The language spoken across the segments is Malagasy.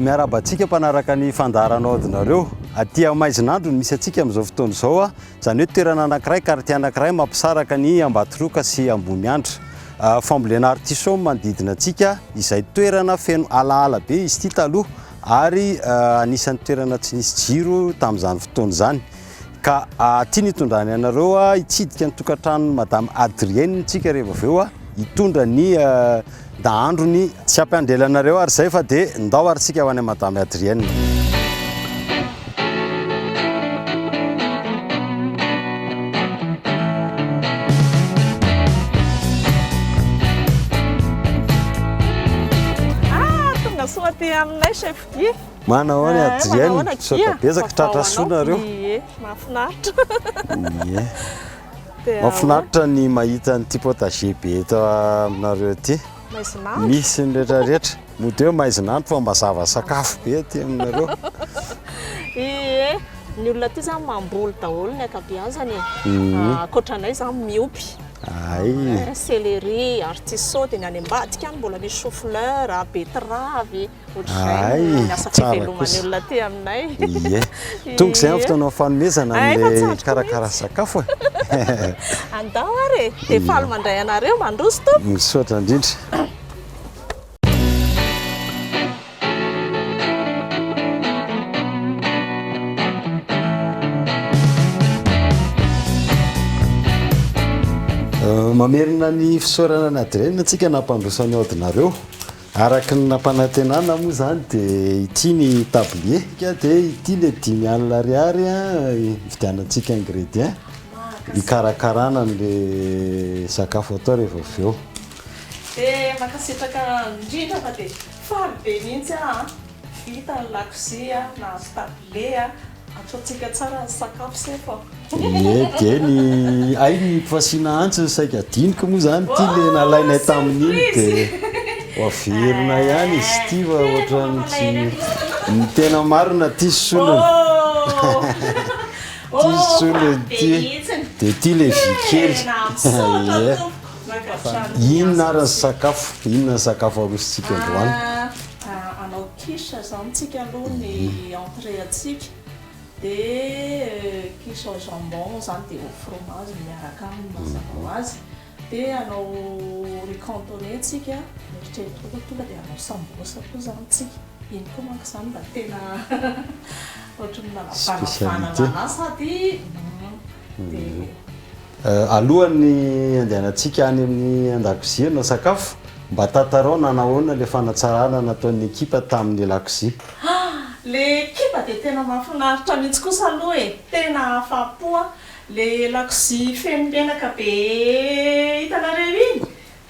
Miarahaba antsika mpanaraka ny fandaharanao adinareo. Aty amin'ny Maizinandro no misy antsika amin'izao fotoana izao. Ah. Izany hoe toerana anankiray, quartier anankiray mampisaraka ny Ambatroka sy Amboniandra. Ah, fambolena artichaut no manodidina antsika, izay toerana feno alaala be izy ity taloha ary ah, anisan'ny toerana tsy nisy jiro tamin'izany fotoana izany. Ka aty nitondrany anareo hitsidika ny tokantranon'i Madame Adrienne tsika rehefa avy eo hitondra ny dahandrony. Tsy hampiandela anareo ary izay fa dia ndao ary tsika ho any Madame Adrienne. Tonga soa aty aminay chef Guy. Manao ahoana eh, Adrienne? Manao Misaotra betsaka tratra soa nareo. Ie, mahafinaritra. Ie. Mahafinaritra ny mahita an'ity potager be eto aminareo ity. Maizinandro. Misy ny rehetra rehetra. Mody hoe maizinandro fa mazava sakafo be aty aminareo. Ie. Ny olona aty zany mamboly daholo ny akabiazany. Mhm. Ah, ankoatra anay zany miopy. Ay. Eh, céleri, artichaut, dia ny any ambadika any mbola misy chou fleur, betterave. Ay, tsara kosa. Ie. Tonga izay amin'ny fotoana fanomezana an'ilay karakara sakafo e. Andao ary e, dia faly mandray anareo, mandroso tompoko. Misaotra indrindra. Mamerina ny fisaorana ny adrena antsika nampandroso an'i Audinareo. Araka ny nampanantenana moa izany dia ity ny tablier ka dia ity ilay dimy alina ariary hividianantsika ingrédients hikarakarana an'ilay sakafo atao rehefa avy eo. Dia mankasitraka indrindra fa dia faly be mihitsy aho an! Vita ny lakozia, nahazo tablier, Ataontsika tsara ny sakafo sefo a. Ie dia ny ahy ny fasiana antsy no saika adinoko moa izany ity le nalainay tamin'iny dia averina ihany izy ity fa ohatran'ny tsy ny tena marina ity solony. Ity solony ity dia ity le vy kely. Ie. Fa inona ary ny sakafo? Inona ny sakafo arosontsika androany? Quiche zao amintsika aloha ny entrée antsika dia quiche au jambon zany dia au fromage miaraka aminy mazava ho azy dia hanao riz cantonais tsika eritreretiko fa tonga dia hanao sambosa koa zany tsika iny koa manko zany mba tena ohatry ny manavanavana lalà sady dia Alohan'ny handehanantsika any amin'ny an-dakozia hanao-sakafo, mba tantarao nanao ahoana ilay fanatsarana nataon'ny ekipa tamin'ny lakozia. Ah! Ilay ekipa dia tena mahafinaritra mihitsy kosa aloha e! Tena afa-po aho! Ilay lakozia feno menaka be hitanareo iny?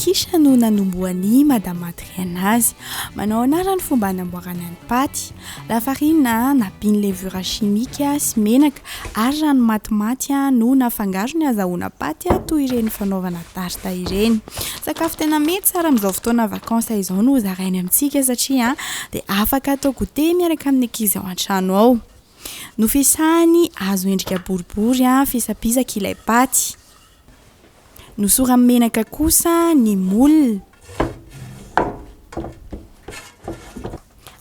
Kisha no nanombohan'i Madame Adrienne azy. Manao anarany fomba anamboarana ny paty. Lafarina, napiny levure chimique sy menaka ary rano matimaty no nafangaro ny hazahoana paty toy ireny fanaovana tarte ireny. Sakafo tena mety tsara amin'izao fotoana vacances izao no zarainy amintsika satria dia afaka atao goûter miaraka amin'ny ankizy ao an-trano ao. Nofisahany hazo endrika boribory fisapisaka ilay paty. Nosoran'ny menaka kosa ny moule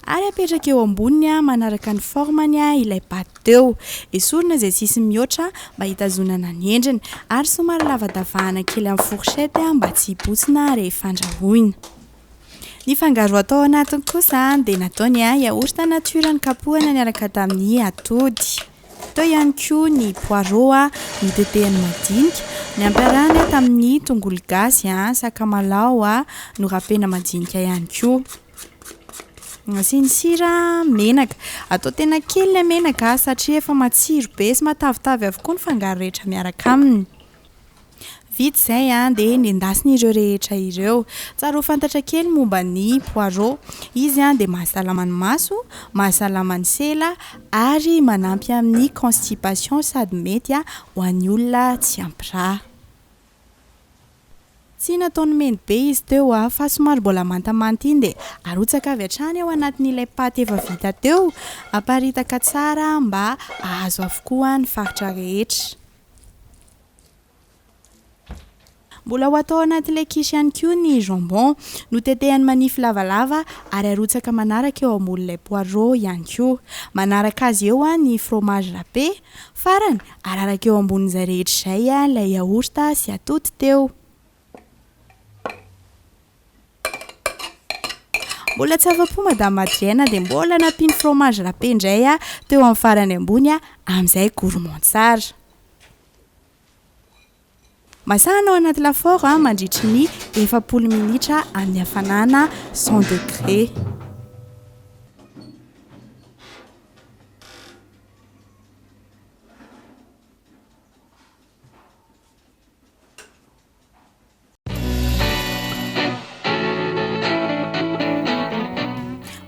ary apetraka eo amboniny manaraka ny formany ilay paty teo. Esorina izay sisiny mihoatra mba hitazonana ny endriny ary somary lavadavahana kely amin'ny fourchette mba tsy hibotsina rehefa andrahoina. Ny fangaro atao anatiny kosa dia natao ny yaourt nature nokapohana niaraka tamin'ny atody. Teo ihany koa ny poireaux notetehany madinika, nampiarahana tamin'ny tongolo gasy, sakamalaho norapena madinika ihany koa. Asiany sira, menaka. Atao tena kely ilay menaka satria efa matsiro be sy matavitavy avokoa ny fangaro rehetra miaraka aminy. Vita izay dia nendasina ireo rehetra ireo. Tsara ho fantatra kely momba ny poireau. Izy dia mahasalama ny maso, mahasalama ny sela ary manampy amin'ny constipation sady mety ho an'ny olona tsy ampy rà. Tsy nataony mendy be izy teo fa somary mbola mantamanta iny dia arotsaka avy hatrany ao anatin'ilay paty efa vita teo. Aparitaka tsara mba hahazo avokoa ny faritra rehetra. Mbola ho atao anaty ilay quiche ihany koa ny jambon. Notetehany manify lavalava ary arotsaka manaraka eo ambonin'ilay poireau ihany koa. Manaraka azy eo ny fromage râpé. Farany, araraka eo ambonin'izay rehetra izay ilay yaourt sy atody teo. Mbola tsy afa-po madame Adrienne dia mbola nampiany fromage râpé indray a teo amin'ny farany ambony a amin'izay gourmand tsara. Masahana ao anaty lafaoro a mandritry ny efapolo minitra amin'ny hafanana 100 degré.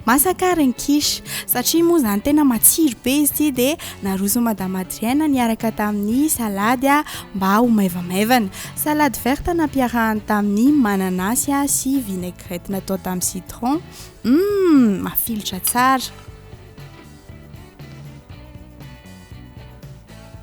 masaka ren quiche satria moa zany tena matsiro be izy ity dia naroson madame Adrienne niaraka tamin'ny salady a mba ho maivamaivana salade verte nampiarahany tamin'ny mananasy a sy vinaigrette natao tamin'ny citron hum mafilotra tsara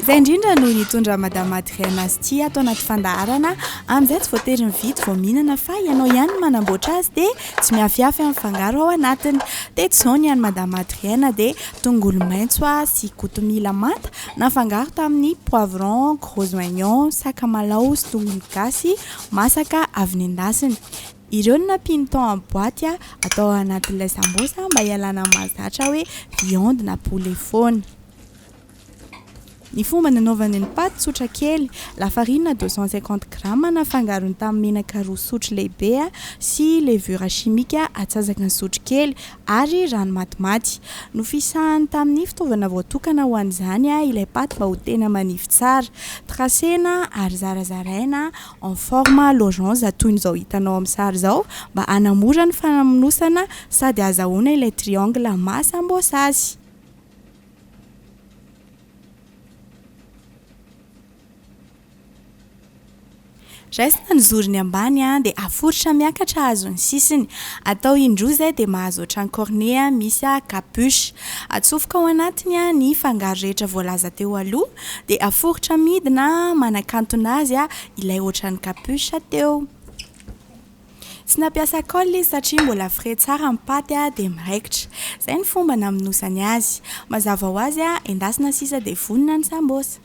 Izay indrindra no nitondra Madame Adrienne azy ity ato anaty fandaharana amin'izay tsy voatery mividy vao mihinana fa ianao ihany no manamboatra azy dia tsy mihafihafy amin'ny fangaro ao anatiny. Teto izao ny an'i Madame Adrienne dia tongolo maitso sy kotomila manta nafangaro tamin'ny poivron, gros oignon, sakamalaho sy tongolo gasy masaka avy nendasina. Ireo no nampiany tao amin'ny boaty atao ao anatin'ilay sambos mba hialana amin'ny mahazatra hoe viande na poulet foana. Ny fomba nanaovany ny paty, tsotra kely, lafarinina deux cent cinquante grammes nafangarony tamin'ny menaka roa sotro lehibe sy levure chimique atsasaka ny sotro kely ary rano matimaty. Nofisahany tamin'ny fitaovana voatokana ho an'izany ilay paty mba ho tena manify tsara. Tracena ary zarazaraina en forme lorange toy ny izao hitanao amin'ny sary izao mba hanamora ny fanamonosana sady azahoana ilay triangle maha sambosa azy. Raisina ny zorony ambany dia aforitra miakatra hahazo ny sisiny. Atao indroa izay dia mahazo ohatran'ny cornet misy capuche. Atsofoka ao anatiny ny fangaro rehetra voalaza teo aloha dia aforitra midina manakantona azy ilay ohatran'ny capuche teo. Tsy nampiasa colle izy satria mbola frais tsara ny paty dia miraikitra. Izay ny fomba namonosany azy. Mazava ho azy, endasina sisa dia vonona ny sambosa.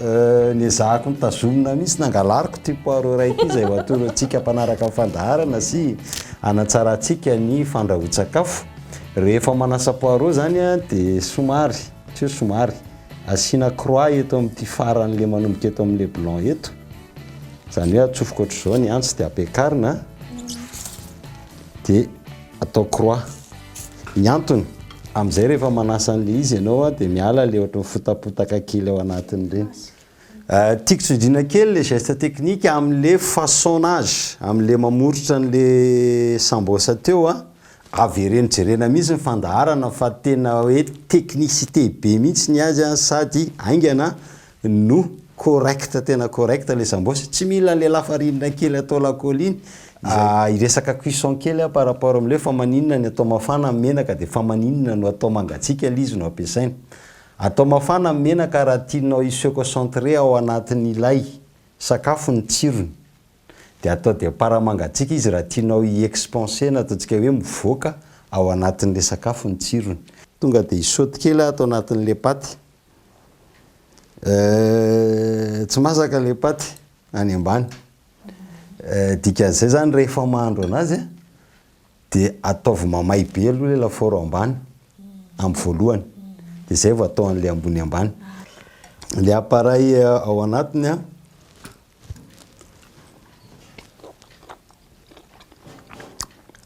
Niezahako nitazomina mihitsy nangalariko ity poireau iray ity izay ho atorontsika mpanaraka ny fandaharana sy hanatsarantsika ny fandrahoan-tsakafo. Rehefa manasa poireau izany dia somary, tsy hoe somary, asiana croix eto amin'ity faran'ilay manomboka eto amin'ilay blanc eto. Izany hoe atsofoka ohatr'izao ny antsy dia ampiakarina dia atao croix. ny antony amizay rehefa manasa anle izy ianao a de miala le ohatry mifotapotaka kely ao anatiny reny euh, tiako tsindrina kely le geste technique amle façonnage amle mamoritra anle sambosa teo a avereno jerena mihitsy ny fandaharana fa tena hoe technicité be mihitsy ny azy a sady haingana No correct tena correct le sambos, tsy mila le lafarinina kely atao lacoly iny, ah hiresaka cuisson kely aho par rapport amle fa maninona ny atao mafana ny menaka de fa maninona no atao mangatsiaka le izy no ampiasaina, atao mafana ny menaka raha tianao hi se concentrer ao anatin'ilay sakafo ny tsirony, de atao de par mangatsiaka izy raha tianao hi expanser na ataontsika hoe mivoaka ao anatin'le sakafo ny tsirony. Tonga de hi saute kely aho ato anatin'le paty Eh, tsy masaka le paty any ambany. Eh, dikan'izay zany rehefa mahandro anazy eh, de ataovy mamay be aloha le lafaoro ambany amin'ny voalohany, de zay vao atao an'le ambony ambany. Le appareil eh, ao anatiny an,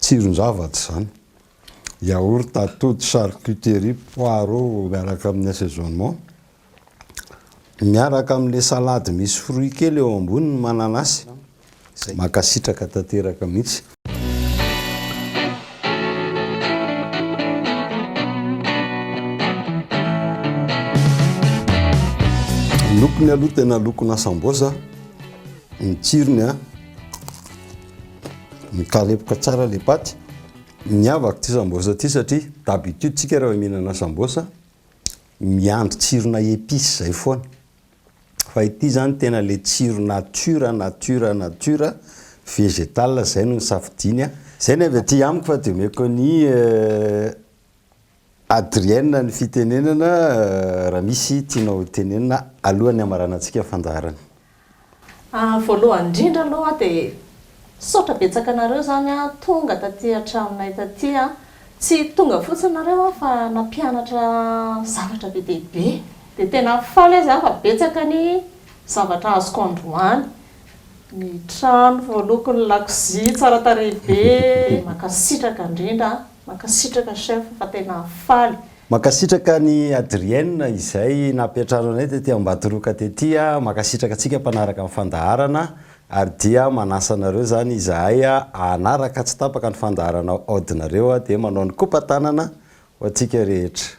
tsiron-javatra zany. yaourt, atody, charcuterie, poireaux miaraka amin'ny assaisonnement, miaraka amin'ilay salade misy fruits kely eo ambony ny mananasy. Izay. Mankasitraka tanteraka mihitsy. Ny lokony aloha tena lokona sambosa, ny tsirony a, mikarepoka tsara ilay paty. Miavaka ity sambosa ity satria d'habitude tsika rehefa mihinana sambosa miandry tsirona épice zay foana. Fa ity zany tena le tsiro nature nature nature vegetal zay no nisafidiany a. Zay ny avy aty amiko fa de omeko an'i. Adrienne ny fitenenana raha misy tianao tenenina alohan'ny hamaranantsika ny fandaharana. Voalohany indrindra aloha dia misaotra betsaka anareo izany tonga taty an-tranonay taty. Tsy tonga fotsiny nareo aho fa nampianatra zavatra be dia be. Dia tena faly aho izany fa betsaka ny zavatra azoko androany. Ny trano voaloko, ny lakozia tsara tarehy be. Mankasitraka indrindra an. Mankasitraka chef fa tena faly. Mankasitraka an'i Adrienne izay nampiantrano anay tety Ambatoroka tety a! Mankasitraka antsika mpanaraka ny fandaharana ary dia manasa anareo izany izahay hanaraka tsy tapaka ny fandaharana aodinareo dia manao ny kopa-tanana ho antsika rehetra.